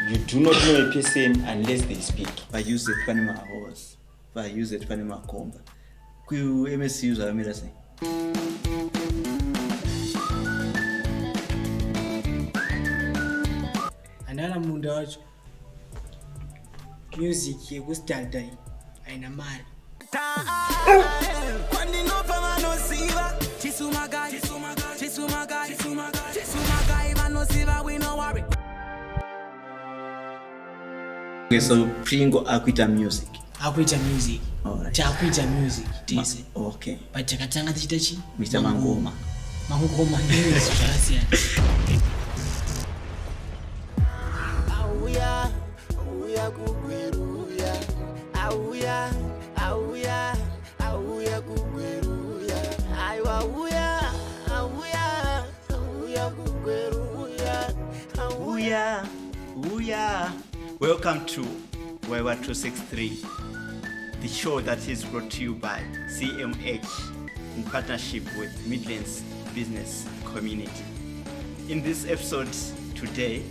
You do not know a person unless they speak. Vayuze pane mahorse, vayuze pane makomba. KuMSU zvakamira sei? Andana munda wacho music yekustadai haina mari. so pringo akuita music akuita music right. takuita music tese Ma, okay. but takatanga tichiita chi kuita mangoma mangoma zvakasiyana Auya kugweru uya, auya, auya, auya kugweru uya. Aiwa auya, auya, auya kugweru uya. Auya, uya. Welcome to Wewa 263, the show that is brought to you by CMH in partnership with Midlands Business Community. In this episode today,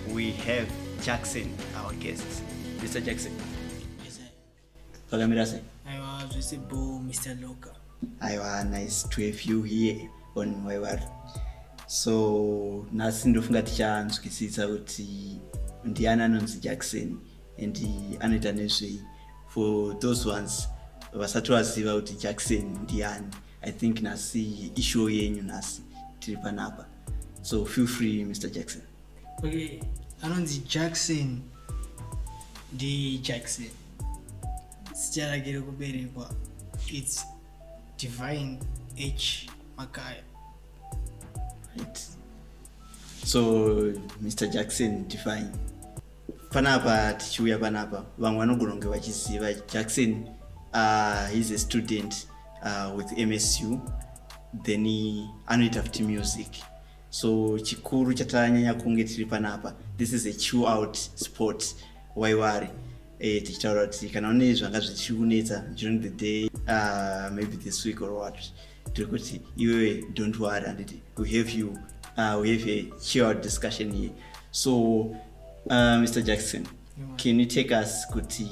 we have Jackson, our guests. Mr. Jackson. Yes, sir. Pakamira sei? Aiwa, zvese bho, Mr. Loka. Aiwa, nice to have you here on my world. So, nhasi ndofunga tichanzwisisa kuti ndiani anonzi Jackson and anoita nezvei. For those ones vasati vaziva kuti Jackson ndiani, I think nhasi ishow yenyu nhasi tiri panapa. So feel free Mr. Jackson. Okay, anonzi Jackson ndi Jackson. Zita rake rekuberekwa it's Divine H Makaya. Right. So Mr Jackson Divine, panapa tichiuya panapa, vamwe vanogona kunge vachiziva Jackson uh, he's a student uh, with MSU then anoita futi music so chikuru chatanyanya kunge tiri panapa this is a chew out sport waiwari e, eh, tichitaura kuti kana une zvanga zvichikunetsa during the day uh, maybe this week or what tiri kuti iwewe don't worry anditi we have you uh, we have a chew out discussion here so uh, mr jackson can you take us kuti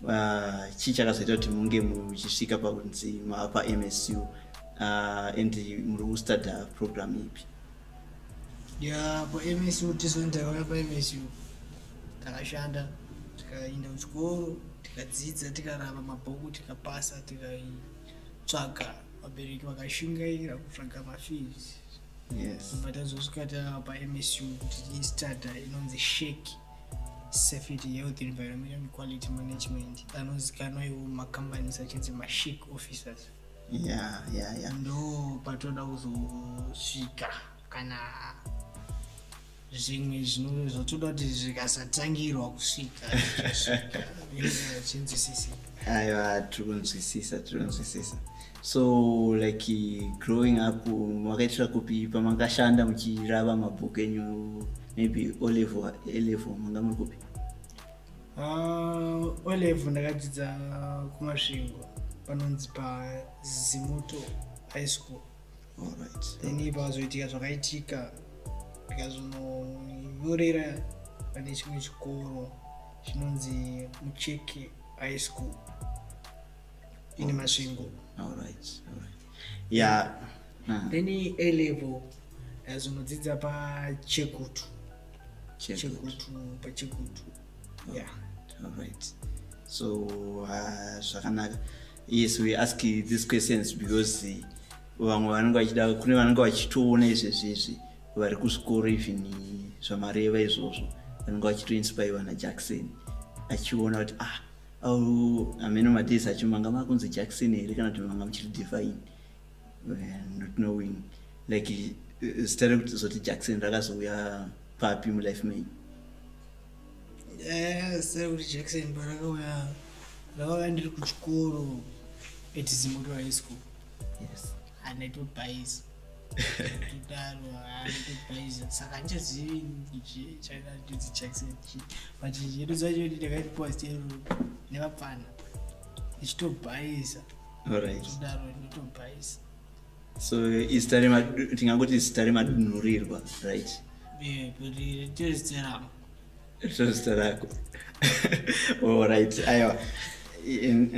uh, chii chakazoita kuti munge muchisvika pakunzi mava pamsu uh, and muri kustuda program ipi ya pamsu tizoni takauya pamsu takashanda tikaenda kuchikoro tikadzidza tikarava mabhuku tikapasa tikaitsvaga vabereki vakashingaira kutsvaga mafees yes. but azosvika tava pamsu kuti istuda inonzi sheki safety health environment and quality management anozikanwa iwo macompanies achinzi mashik officers yeah, yeah, yeah. ndo patoda kuzosvika kana zvimwe zvinove zvotoda kuti zvikasatangirwa kusvika zvinosvika zvinzi sisi aiwa tiri kunzwisisa tiri kunzwisisa so like growing up makaitira kupi pamakashanda muchirava mabhuku enyu maybe olevel elevel manga muri kupi ah, olevel ndakadzidza kumasvingo panonzi pazimuto high school right. then ipa vazoitika zvakaitika ndikazononyorera pane chimwe chikoro chinonzi mucheke high school Ini Masvingo. All right. All right. Yeah. Uh-huh. Then A level as unodzidza pa Chekutu. Chekutu pa Chekutu. Yeah. All right. So uh, zvakanaka. Yes, we ask these questions because uh, vamwe vanenge vachida kune vanenge vachitoona izvezvi izvi vari kuzvikoro even zvamareva izvozvo vanenge vachitoinspirwa najackson achiona kuti ah au ameno matisa acho manga makunzi jackson here kana kuti manga muchiri divine eh, not knowing like eh, zita rekuti zoti jackson rakazouya papi mulife main eh, zita rekuti jackson parakauya rakauya ndiri kuchikoro at zimoto high school yes and it would buy so izita tingangoti izita remadunhurirwa right zita rako orit oh, aiwa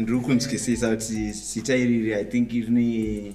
ndiri kunzwisisa kuti zita iriri i think rine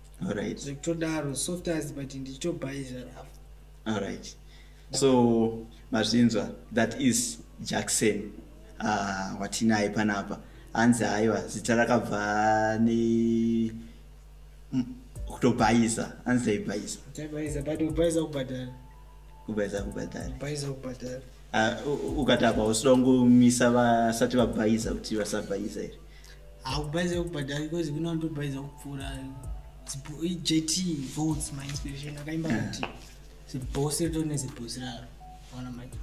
alright zvekutodaro soft as but ndichitobhaiza rafu alright so mazvinzwa that is jackson uh, watinaye panapa hanzi haiwa zita rakabva ne kutobhaiza hanzi taibhaiza taibhaiza but kubhaiza kubhadhara kubhaiza kubhadhara kubhaiza kubhadhara uh, ukatapa usidaungomisa vasati vabhaiza kuti vasabhaiza here hakubhaiza kubhadhara because kune vanotobhaiza kupfuura jt votes my inspiration akaimba kuti zibhosi ritori nezibhosi raro ona mike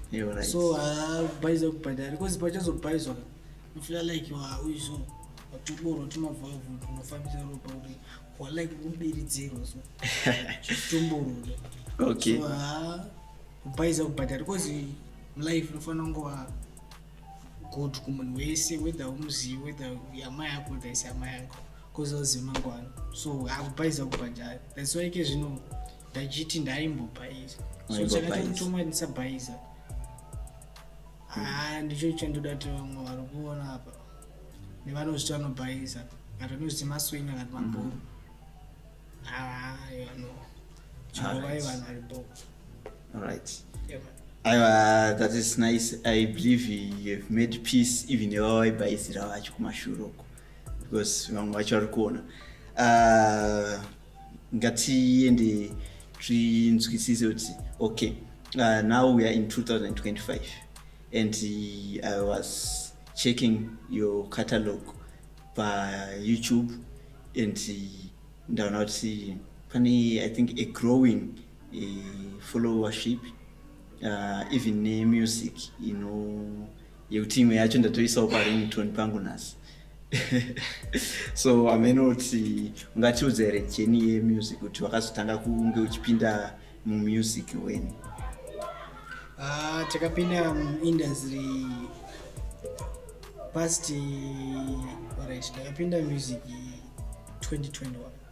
so hakubhaiza kubhadhara because pachazobhaizwa ufila like wauizvo watoboro timavhavu unofambisa ropa kuti walike kubiridzirwa so chitomborore okay so, uh, kubhaiza kubhadhara because life unofanira kungova good kumunhu wese whether umuzivi whether yamai yako whether isi yamai yako bcoz azivi mangwana so akubhaiza kubhajari thats why ke zvino ndachiti ndaimbobhaiza so chakatomutomwa ndisabhaiza haa ndicho chandoda kuti vamwe vari kuona apa nevanozviti vanobhaiza kati vanozviti maswenya kati mabhoro mm-hmm. haa yano chivovai vanhu vari bhoo Alright. Yeah, aiwa that is nice i believe youhave made peace even vavaibhaizira vacho kumashuro uko because vamwe vacho vari kuona uh, ngatiende tinzwisise kuti okay uh, now we are in 2025 and uh, i was checking your catalog payoutube and uh, ndaona kuti pane i think a growing follow worship uh, even nemusic ino yekuti imwe yacho ndatoisawo parington pangu nhasi so amene kuti ungatiudza here jeni yemusic kuti wakazotanga kunge uchipinda mumusic weni ah, takapinda muindustry past orit ndakapinda music 2021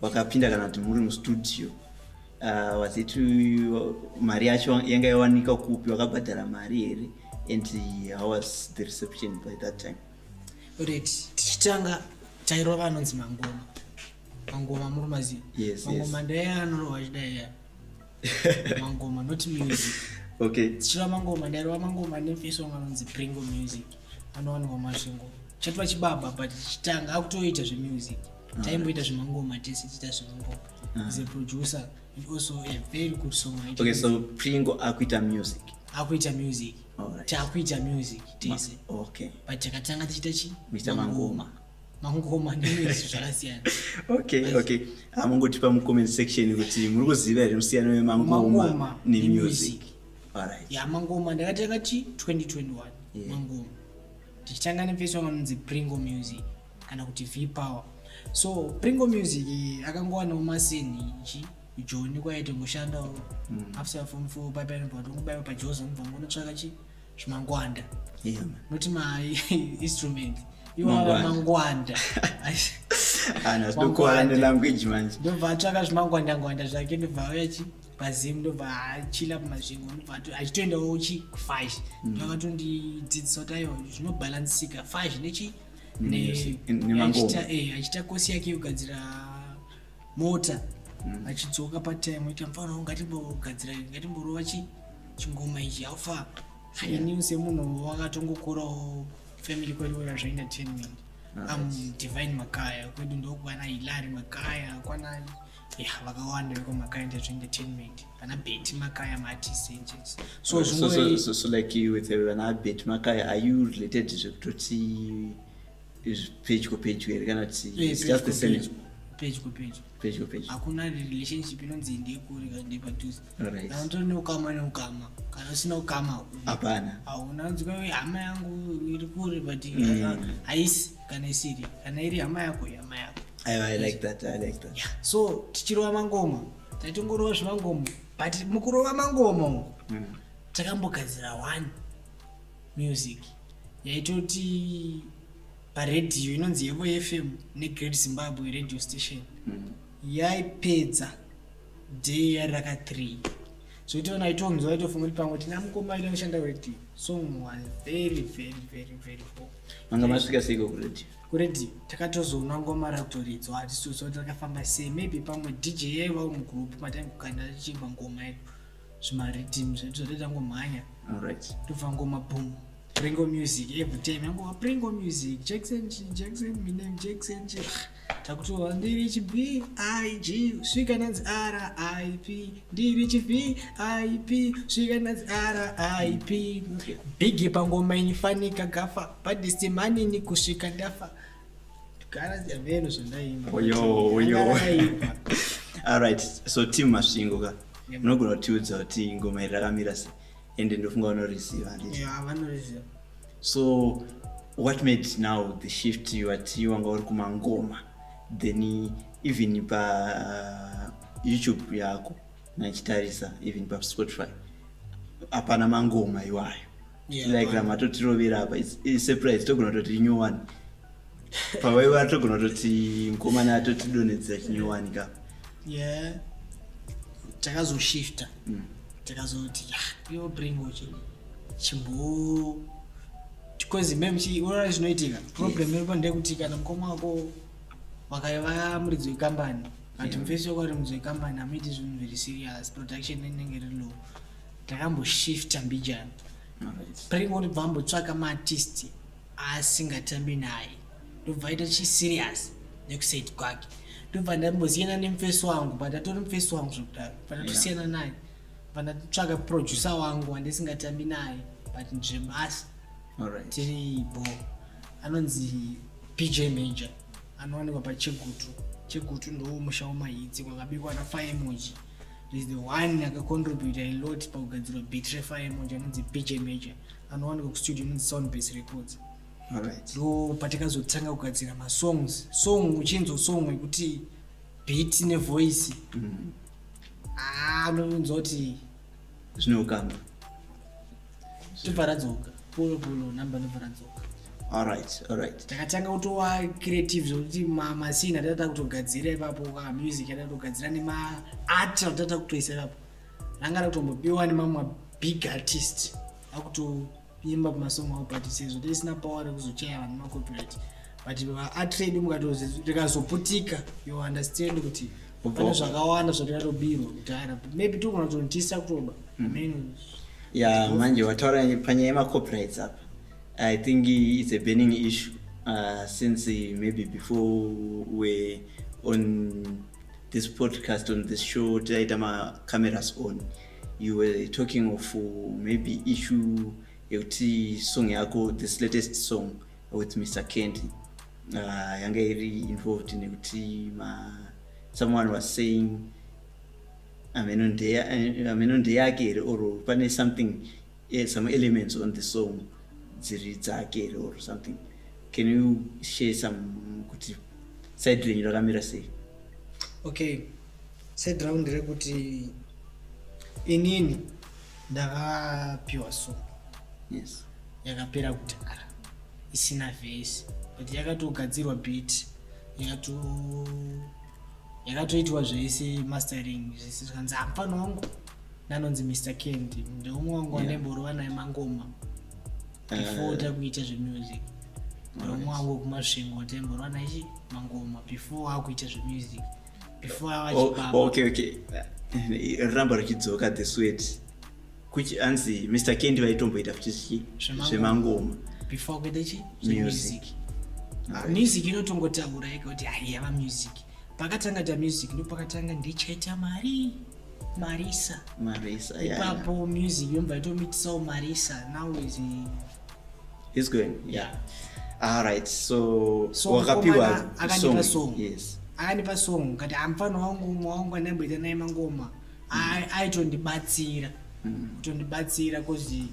wakapinda kana kuti muri mustudio uh, was it mari yacho yanga yawanika kupi wakabhadhara mari here and how was the reception by that time ret tichitanga tairova anonzi mangoma mangoma muri maziva yes, mangoma yes. ndaiya anorowa chidaiya mangoma not music okay tichireva mangoma ndaireva mangoma nefesong anonzi pringo music anowanikwa masvingo chatova chibaba but chitanga akutoita zvemusic taimboita zvemangoma tese tiita zvemangoma ah. is a producer and also a very good song okay so pringo akuita music akuita music takuita music tese okay but takatanga tichiita chi mangoma mangoma nemizvi zvakasiyana okay okay amungotipa mucomment section kuti muri kuziva here musiyano wemangoma nemusic ya mangoma ndakatanga chi 2021 mangoma tichitanga nefesi wanga munzi pringo music kana kuti v power so pringo music akangowanawo maseni ichi joni kwaye tingoshandawo mm. after form four paipainobva tongobaiwa pajozi mubva ngonotsvaka chii zvimangwanda yeah, not my instrument iwava mangwanda ana zvokuwana nelanguage manje ndobva atsvaka zvimangwandangwanda zvake ndobva auya chi pazim ndobva achila pamazvingo ndobva achitoendawo chi kufash mm. ndovakatondidzidzisa kuti ayo zvinobhalansika fash nechi eh, achita kosi yake yogadzira mota mm. achidzoka patime ita mfana ngatimbogadzira ngatimborova chi chingoma ichi haufa ini semunhu wakatongokorawo family kwedu wera zvaina 10 minute ah, am divine makaya kwedu ndokwana hilari makaya kwana ya vakawanda veko makaya ndazvainda 10 minute vana beti makaya maartist angels so so, so, so, so like you with vana beti makaya are you related zvekutoti pedyo pedyo here kana kuti it's just the same pedyo pedyo pedyo pedyo hakuna relationship inonzi ndekuri kana ndepadhuze kana utori neukama neukama kana usina ukama hapana hauna nzwa hama yangu iri kure but mm. ah, haisi kana isiri kana iri hama yako hama yako I like that, I like that. Yeah. so tichirova mangoma taitongorova zvemangoma but mukurova mangoma umu mm. takambogadzira one music yaitoti paredhiyo inonzi yevo fm negreat zimbabwe radio station mm. yaipedza day yari raka three zvotoona itonzwa itofunga kuti pamwe tina mukoma aita kushanda radio song was very very very very poor manga masvika seiko kuredio kuredio takatozoona ngoma rakutoridzwa hatisiso takafamba sei maybe pamwe dj yaivawo mugroup mataimbokanda tichiimba ngoma yedu zvimaridhim zvedu zvati tangomhanya tobva ngoma boom pringo music every time yangova pringo music jackson chi jackson minem jackson chi takutova ndiri chi b i g svika nanzi r i p ndiri chi b i p svika nanzi r i p bigi pangoma inifanika gafa padisimanini kusvika ndafa okay. alright so team masvingo ka munogona kutiudza kuti ngoma iri rakamira se ende ndofunga vanorisiva so what made now the shift wati wanga uri kumangoma then even pa uh, youtube yako nachitarisa even pa spotify hapana mangoma iwayo Yeah, like vanhu. ramatotirovera apa It's- it's surprise togona kutoti inyowani pavaiva togona kutoti mukomana atotidonhedzera chinyowani ka yeah takazoshifta Mm. takazoti "Ah, yo bring uchi chimbo because mem chiurora zvinoitika problem iripo ndeyekuti kana mukoma wako wakaiva muridzi wekambani but Yeah. mfesi wako ari muridzi wekambani hamuiti zvinhu very serious production inenge iri low Takamboshifta mbijana break kuti bva ambotsvaka maartist aasingatambi naye ndobva aita chiserious nekusaid kwake ndobva ndambosiyana nemufesi wangu but atori mufesi wangu zvekudaro but atosiyana naye but ndatotsvaka producer wangu wandisingatambi naye but ndremasa tiri bo anonzi bj major anowanikwa pachegutu chegutu ndowo musha wemahidzi kwakabikwa nafaemoji is the one akacontributa a lot pakugadzirwa beat refire emoji anonzi bj major anowanikwa kustudio inonzi sound base records ndo patakazotanga kugadzira masongs song uchinzwa song yekuti beat nevoice mm. ah, unonzwa kuti zvine ukama tobva radzoka polo polo number ndobva radzoka alright alright takatanga kutova creative zvokuti masina tatata kutogadzira ipapo ka music yatata kutogadzira nemaart atata kutoisa ipapo ranga rakutombopiwa nemamwe big artist akutoimba pamasong avo but sezvo tisina power rekuzochaya vanhu macopyright but vaatrade mukatozi rikazoputika you understand kuti pane zvakawanda zvati vatobirwa kudhara maybe togona kutonotisa kutoba hmm. ya manje wataura panyaya yemacopyrights apa i think its a burning issue uh, since uh, maybe before we on this podcast on this show taiita macameras on you were talking of uh, maybe issue yekuti song yako this latest song with Mr. Candy uh, yanga iri involved nekuti ma someone was saying ameno eh, ndeyake here or pane something yeah, some elements on the song dziri dzake here or something can you share some kuti side renyu rakamira sei okay side round rekuti inini ndakapiwa song yes yakapera kudhara isina vhesi but yakatogadzirwa beat yakato yakatoitwa zvese mastering zvese zvikanzi hapana wangu nanonzi mr kendi ndeumwe wangu wanemborova naye mangoma eh. before takuita zvemusic ndeumwe wangu kumasvingo temborova naye mangoma before akuita zvemusic oh, oh, okay okay ramba richidzoka the sweat kuchi anzi mr kendi vaitomboita futi zvi zvemangoma before kuita chi music ah, music inotongotaura yega kuti haiyava music pakatanga ta music ndo pakatanga ndichaita mari marisa marisa ipapo yeah. music yomba itomitisawo marisa now is He's going. Yeah. All right. So, so wakapiwa song. song. Yes. Akanipa song kati amfana wangu umwe wangu anamboita naye mangoma. Mm. Aitondibatsira. Mm. Kutondibatsira kozi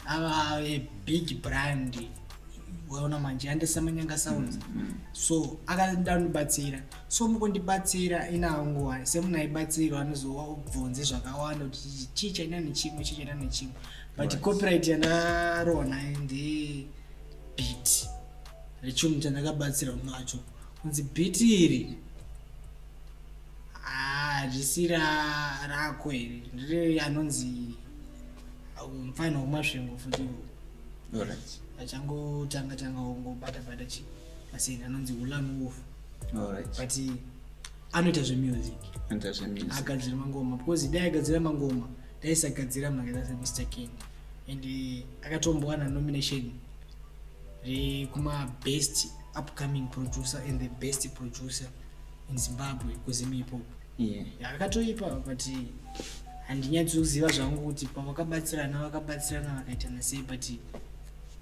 ava a big brand. Waona manje andisa manyanga sounds. Mm. mm. So akandibatsira. So mukundibatsira inawo nguwa. Semunaibatsirwa anozobvunze zvakawanda kuti chicha ina nechimwe chicha ina nechimwe. but copyright yandarona ndi beat rechunhu chandakabatsira munhu wacho kunzi beat iri hazvisi ah, rako iri ndiri anonzi mfana wemasvingo futi achangotanga tanga ongobata bata chi pasini anonzi ulanuwof but anoita zvemusic agadzira mangoma because dai agadzira mangoma taisagadzira mari dzase mr king and eh, akatombowana nomination rekumabest upcoming producer and the best producer in zimbabwe kuzimipo yeah. akatoipa but handinyatsi kuziva zvangu kuti pavakabatsirana vakabatsirana vakaitana sei but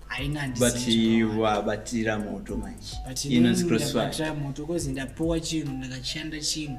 hainandivabatira moto manje inonzi crossfire moto kozi ndapuwa chinhu ndakashanda chinhu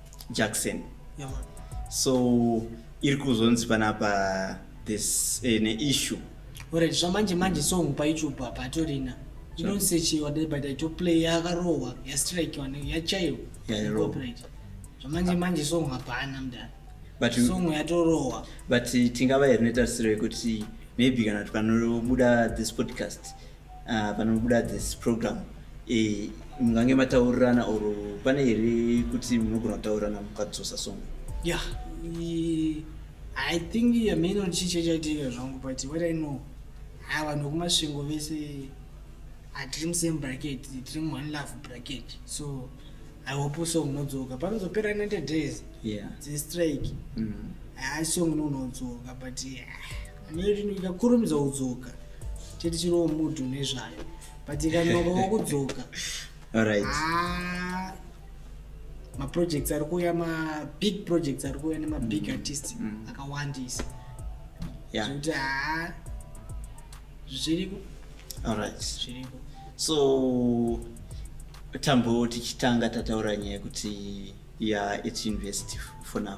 Jackson. Yeah, man. So iri kuzonzi panapa this eh, ne issue. Alright, zvamanje manje song pa YouTube apa atorina. You don't say she ordered by the top play yakarohwa ya strike one ya chayo. Yeah, yeah, copyright. Zvamanje manje song hapana mdana. But song yatorohwa. But tingava here netarisiro yekuti maybe kana tukanobuda this podcast Ah, panobuda this program eh, mungange mataurirana or pane here kuti munogona kutaurirana mukadzosa song ya i think ameno chiche chaitika zvangu but what i know ha vanhu vekumasvingo vese hatiri musame bracket tiri muone love bracket so i hope song unodzoka panozopera 90 days yeah. dzestrike mm. ha song unodzoka but yeah. Mary ndikakurumidza kudzoka chete chiriwo mudhu nezvayo but ikanoka wokudzoka Alright. Ah, maprojects ari kuuya mabig projects ari kuuya nemabig artist Mm. akawandisa Yeah. zvekuti haa zviriko Alright. zviriko so tambo tichitanga tataura nyaya yekuti ya its university for now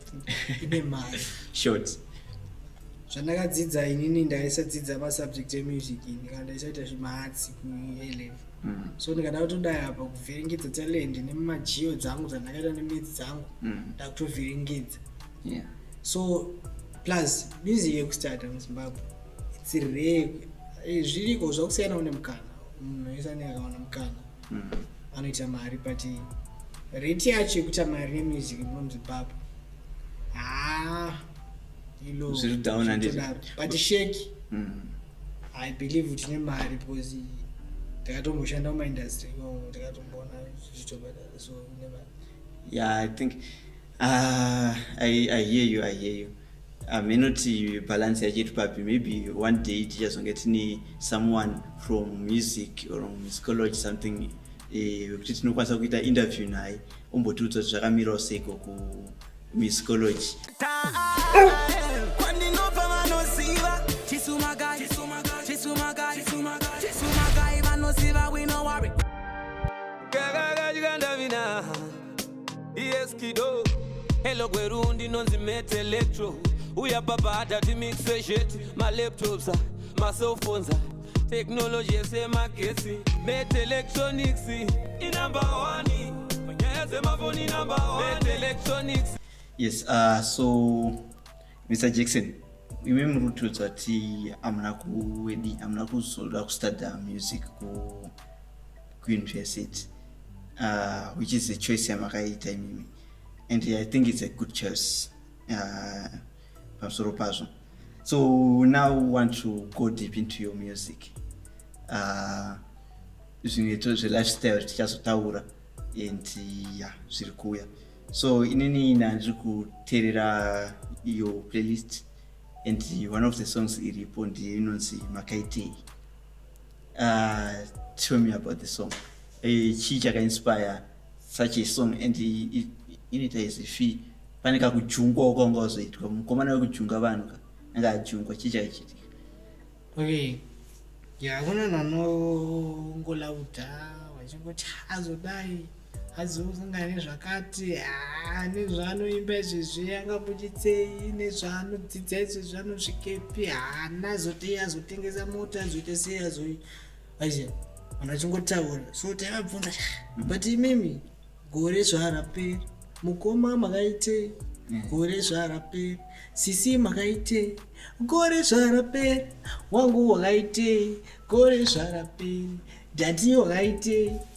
ine mari short zvandakadzidza inini ndaisadzidza masubject emusic ndikana ndaisaita zvemahatsi kuelev mm. so ndikada kutodai apa kuvhiringidza talent nemumajio dzangu dzandakaita nemidzi dzangu mm. ndakutovhiringidza so plus music yekustata muzimbabwe itsiree eh, zviriko zvakusiyana une mukana munhu wese anenge akawana mukana anoita mari but rate yacho yekuita mari nemusic muno muzimbabwe haa ilo Zviri down handiti? zvinotodaro. but sheki Mm. i believe kuti ne mari because ndakatomboshanda mumaindustry iwawo ndakatomboona zvichitobadara so ne mari yeah i think Ah, I, I hear you, I hear you. Hameno kuti balance yacho iri papi, maybe one day tichazonge tine someone from music or musicology something eh, wekuti eh, tinokwanisa kuita interview naye ombotiudza kuti zvakamirawo seiko kumusicology. Yes kido Hello gweru ndinonzi met electro Uya papa hata timixe zhet Ma laptops, ma cell phones Technology yese magetsi Met electronics I number one Nyaya dzemafoni number one Met electronics Yes, uh, so Mr. Jackson imi muri kutiudza kuti amuna kuwedi amuna kuzoda kustadya music ku kuuniversity uh, which is a choice yamakaita imimi and i think it's a good choice uh, pamusoro pazvo so now want to go deep into your music uh, zvimwe to zvelifestyle tichazotaura and ya zviri kuuya so inini nandiri kuteerera your playlist and one of the songs iripo ndiyo inonzi makaitei Uh, tell me about the song. Eh, chii chakainspire such a song and inoita as if pane kakujungwa kwanga wazoitwa mukomana wekujunga vanhu ka anga ajungwa chii chakaichitika okay ya kune nanongolauda vachingoti hazodai azosangana nezvakati ah, nezvaanoimba izvezvi angabuchitsei nezvaanodzidza izvezvi anosvikepi haana ah, zotei azotengesa mota azoita sei azoi aise vanhu vachingotaura so taivabvunza but imimi gore zvaaraperi mukoma makaitei gore zvaaraperi sisi makaitei gore zvaaraperi wangu wakaitei gore zvaaraperi dhati wakaitei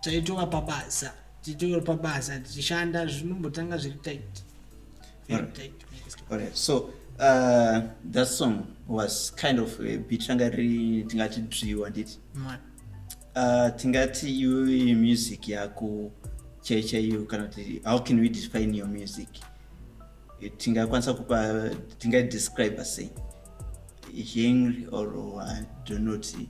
taitova pabasa titori pabasa tichishanda zvinombotanga zviri tight very tight alright so uh, that song was kind of a bit ranga riri tingati driwa handiti uh, tingati iwe music yako chai chaiyo kana kuti how can we define your music tingakwanisa kupa tingadescribe sei genre or uh, donoti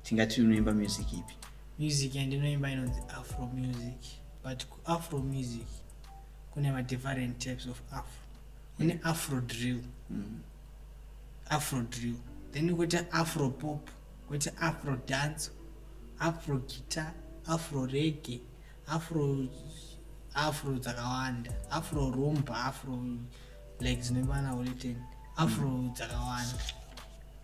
tingati unoimba music ipi Music yandinoimba inonzi afro music but kuafro music kune madifferent types of afro kune afro drill mm. afro drill then koita afro pop koita afro dance afro guitar afro rege afro afro dzakawanda afro rumba afro like dzinoimbana uleteni afro mm. dzakawanda mm.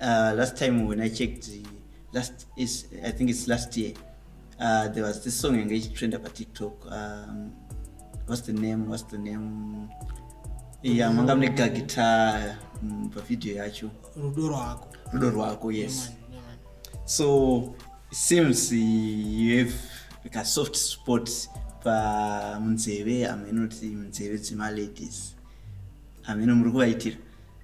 Uh, last time when I checked, last is I think it's last year. Uh, there was this song engaged trend about TikTok. Um, what's the name? What's the name? Yeah, manga mune guitar mm, pa video yacho. Rudo rwako. Rudo rwako, yes. Yeah, man, yeah, So it seems you have like a soft spot pa munzeve amene kuti munzeve dzema ladies amene muri kuvaitira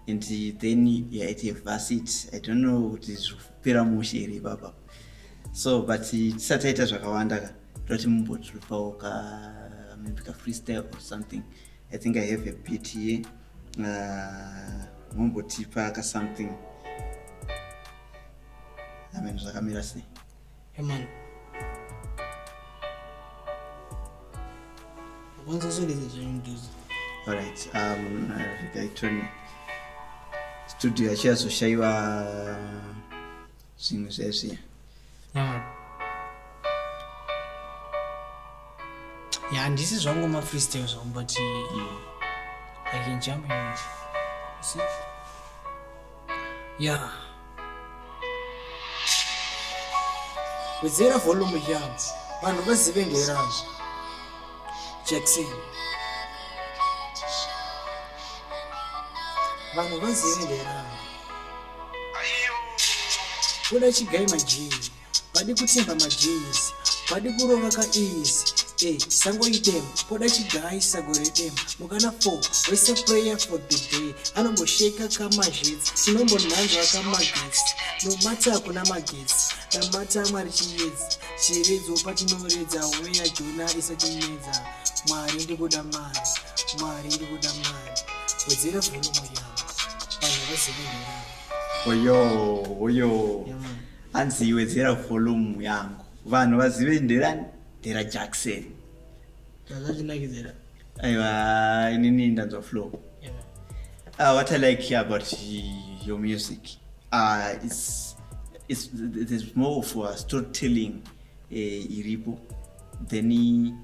and then yeah, at university i don't know kuti zvekupera mushe here ipapa so but tisati taita zvakawanda ka toti mumbotipawo ka maybe ka freestyle or something i think i have a bit here uh, mumbotipa ka something amen zvakamira sei Herman. Kwanza zuri zuri mduzi. All right. Um, I turn studio achiyazoshaiwa zvimwe zvezviya ya handisi zvangu mafreestyle zvangu but i can jump in see Yeah. Wedzera volume yangu vanhu vazive ngerangu. Jackson. Vanhu vazive ngerangu. Kuda chigai majini. vadi kutimba majeans vadi kurova ka easy Hey, sango idem poda chigayi sago redem mukana 4 wese prayer for the day anombosheka kamazhitsi tinombonhanzva kamagetsi nomata hakuna magetsi namata mwari chiyedzi chiredzo patinoredza weya jona isatinedza mwari ndikuda mari mwari ndikuda mari wedzera vhulumu yavo vanhu vazivinhera oyo oyo yeah, Hanzi wedzera volume yangu vanhu vazive nderani ndera Jackson. Zvazvinakidzera. Aiwa inini ndanzwa flow. Yeah. Uh, what I like here about your music uh, is is there's more of a storytelling uh, iripo then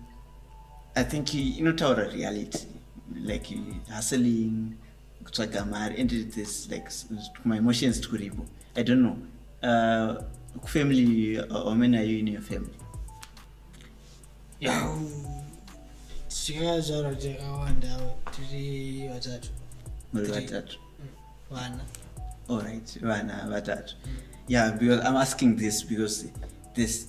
I think inotaura reality like hustling kutsvaga mari and this like my emotions tikuripo i don't know uh, kufamily uh, how many are you in your family yeah. tikazvarwa takawanda tiri vatatu muri vatatu mm, vana all right vana vatatu mm. yeah because i'm asking this because this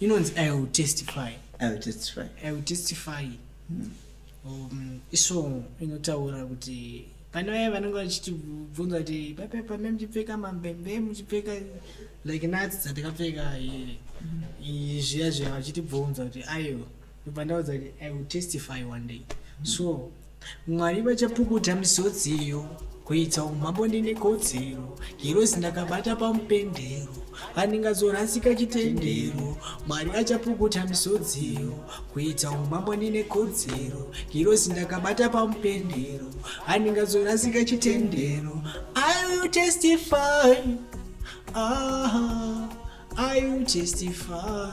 inonzi i will testify i will testify i will testify hmm. um, isong inotaura kuti pane vaye vanenge vachitibvunza kuti pape pame muchipfeka mambembe muchipfeka like natsi dzandikapfeka zviya zviya vachitibvunza kuti aiwa ndobva ndaudza kuti i will testify one day so mwari vachapukuta misodzi iyo kuita umambo ndine kodzero hirozi ndakabata pamupendero handingazorasika chitendero mwari achapukuta misodziyo kuita umambo ndine kodzero hirozi ndakabata pamupendero handingazorasika chitendero i will testify ah, i will testify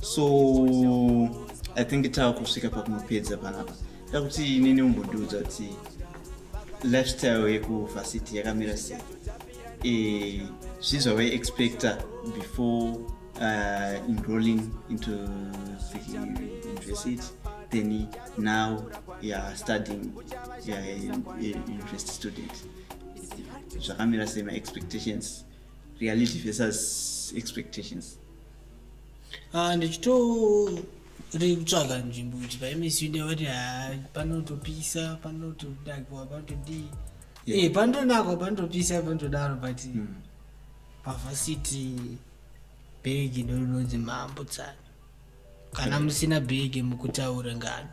so i think tava kusvika pakunopedza panapa da kuti inini umbondiudza kuti lifestyle yekuvhasiti yakamira sei e, zvii zvavaiexpecta before uh, enrolling into the university then now youare studying university student zvakamira sei maexpectations reality versus expectations Ah, ndichitori kutsvaga nzvimbo kuti paimisi inde vati haa ah, panotopisa panotodakwa panotodii e panotonakwa panotopisa panotodaro but hmm. pavhasiti bhegi ndorinonzi mambo tsana kana hmm. musina bhegi mukutaura ngano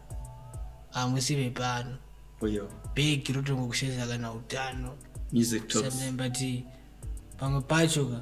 hamusi vepano bhegi rotongo kusheza kana utano but pamwe pacho ka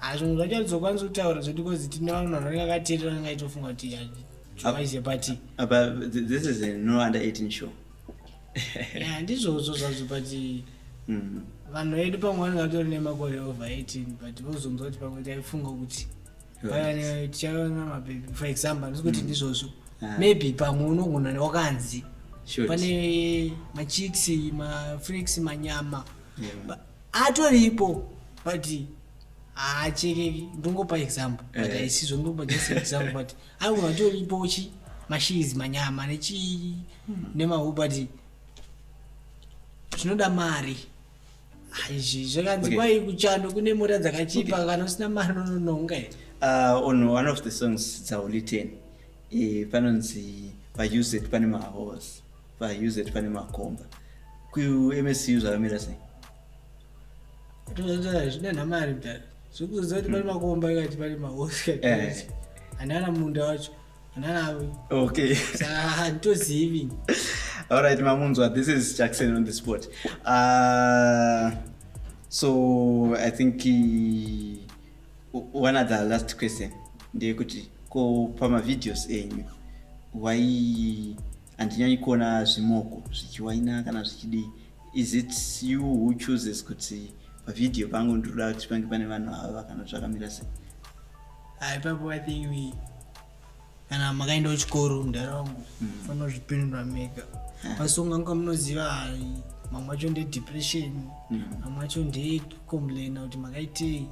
Ah, zvimwe zvacho atizokwanisa kutaura zvekuti kozi tine vamwe vanhu vanenge akateerera anenge aitofunga kuti jwaize pati apa th- this is a no under 18 show Yeah, ndizvozvo zvazvo but Mm. vanhu vedu pamwe vanenge vatori nemakore over 18 but vozonzwa kuti pamwe taifunga kuti payane tichaona mabhebhi for example ndisi kuti ndizvozvo Ah. maybe pamwe unogona wakanzi Shoot. pane machicks mafreaks manyama Yeah. Ba- atoripo but haachekeki ndongopa example but Eh. haisizvo ndongopa just example but aunhu atoripo chi mashizi manyama nechii nemahu but zvinoda mari Ah, izvi zvakanzi Okay. kwai kuchando kune mota dzakachipa kana usina mari unononga here uh, on one of the songs dzauli 10 eh, panonzi pauz pane mahorse vaUZ pane makomba kuMSU zvakamira sei zvine namari mdara zvikuziva kuti pane makomba ikati pane mahosi eh. anana munda wacho ananawe okay handitozivi alright mamunzwa this is jackson on the spot uh, so i think uh, one of the last question ndeyekuti ko pamavideos enyu why handinyanyi kuona zvimoko zvichiwaina kana zvichidii is it you who chooses kuti pavideo pangu ndinoda kuti pange pane vanhu ava kana zvakamira sei ipapo i think we kana makaenda kuchikoro mudhara wangu mm. fanira kuzvipindura mega asi ungange munoziva mamwe acho ndedepression mm. mamwe acho ndee complain kuti makaitei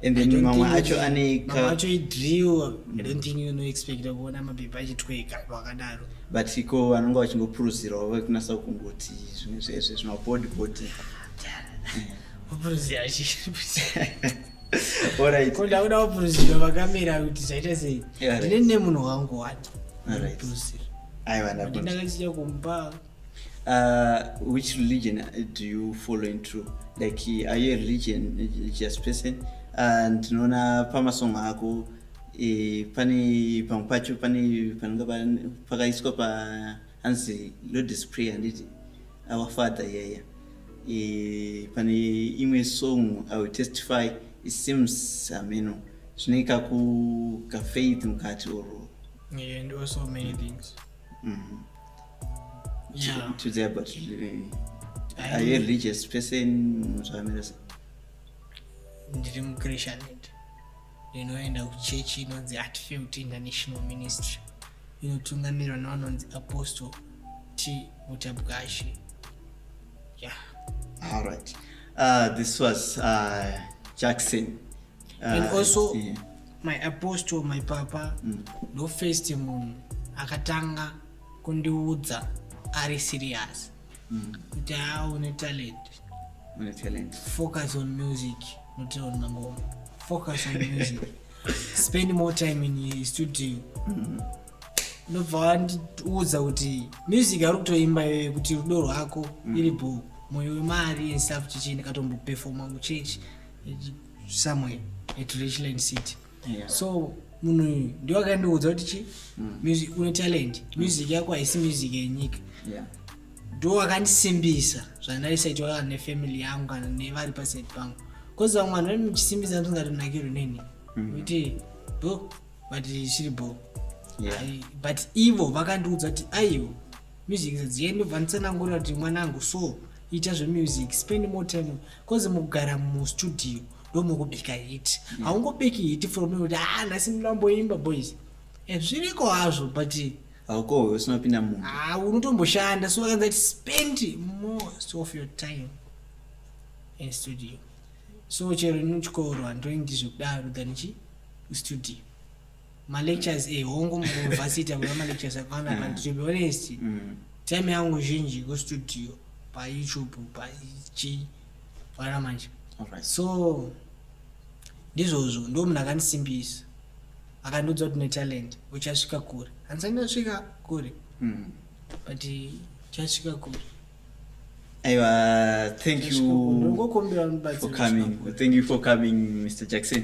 and then mamwe acho aneika acho idrill i don't think you know expect kuona mapepa achitweka vakadaro but iko vanonga vachingopuruzirawo vakunasa kungoti zvimwe zvezve zvimabody body kupuruzira ndakuda kupuruzira vakamera kuti zvaita sei ndine nemunhu wangu wani kupuruzira aiva ndakachita kumba Uh, which religion uh, do you follow in true like are you a religion religious person uh, ndinoona uh, pamasong ako e, pane pamwe pacho pane panonga pakaiswa pa hanzi lodis prayer handiti our father yaya e, pane imwe song i will testify it seems hameno zvine kaku kafaith mukati or yeah, and also many things mm -hmm. yeah. to there but really, are you a religious person zvamira sei ndiri muchristianity ndinoenda kuchechi inonzi atfield international ministry inotungamirwa navanonzi apostle t mutabwashe yeah. all right uh, this was uh, jackson ah, and also yeah. my apostle my papa mm. ndo first munhu akatanga kundiudza ari serious mm. kuti haa une talent une talent focus on music not on mangoma focus on music spend more time in studio mm. ndobva wandiudza kuti music ari kutoimba iyoyo kuti rudo rwako mm. iri bho moyo wemari and stuff chichii ndikatombopefoma kuchechi somewhere at richland city yeah. so munhu uyu ndiwo akandiudza kuti chi mm. music une talent mm. music yako haisi music yenyika yeah. ndo akandisimbisa zvandaisaitwa kana nefamily yangu kana nevari paside pangu bcause vamwe vanhu vaimuchisimbisa ndisingatonakirwi neni mm. kuti bo but chiri bo but ivo vakandiudza kuti aiwo music zadziyeni ndobva nditsanangurira kuti mwanangu so ita zvemusic spend more time bcause mukugara mustudio ndomukubika hit mm. haungobiki hit from kuti ah nhasi ndinamboimba boys eh, zviriko hazvo but haukohwe usinopinda munhu ah, unotomboshanda so akanza kuti spend most of your time in studio so chero nechikoro handoi ndizvekudaro than chi studio malectures e eh, hongu muuniversity akuda malectures akawanda but to be honest mm. time yangu zhinji kustudio payoutube pachi vana manje so ndizvozvo ndo munhu akandisimbisa akandiudza kuti netalent uchasvika kure handisati ndasvika kure mm. but uchasvika kure aiwa thank you for coming thank you for coming mr jackson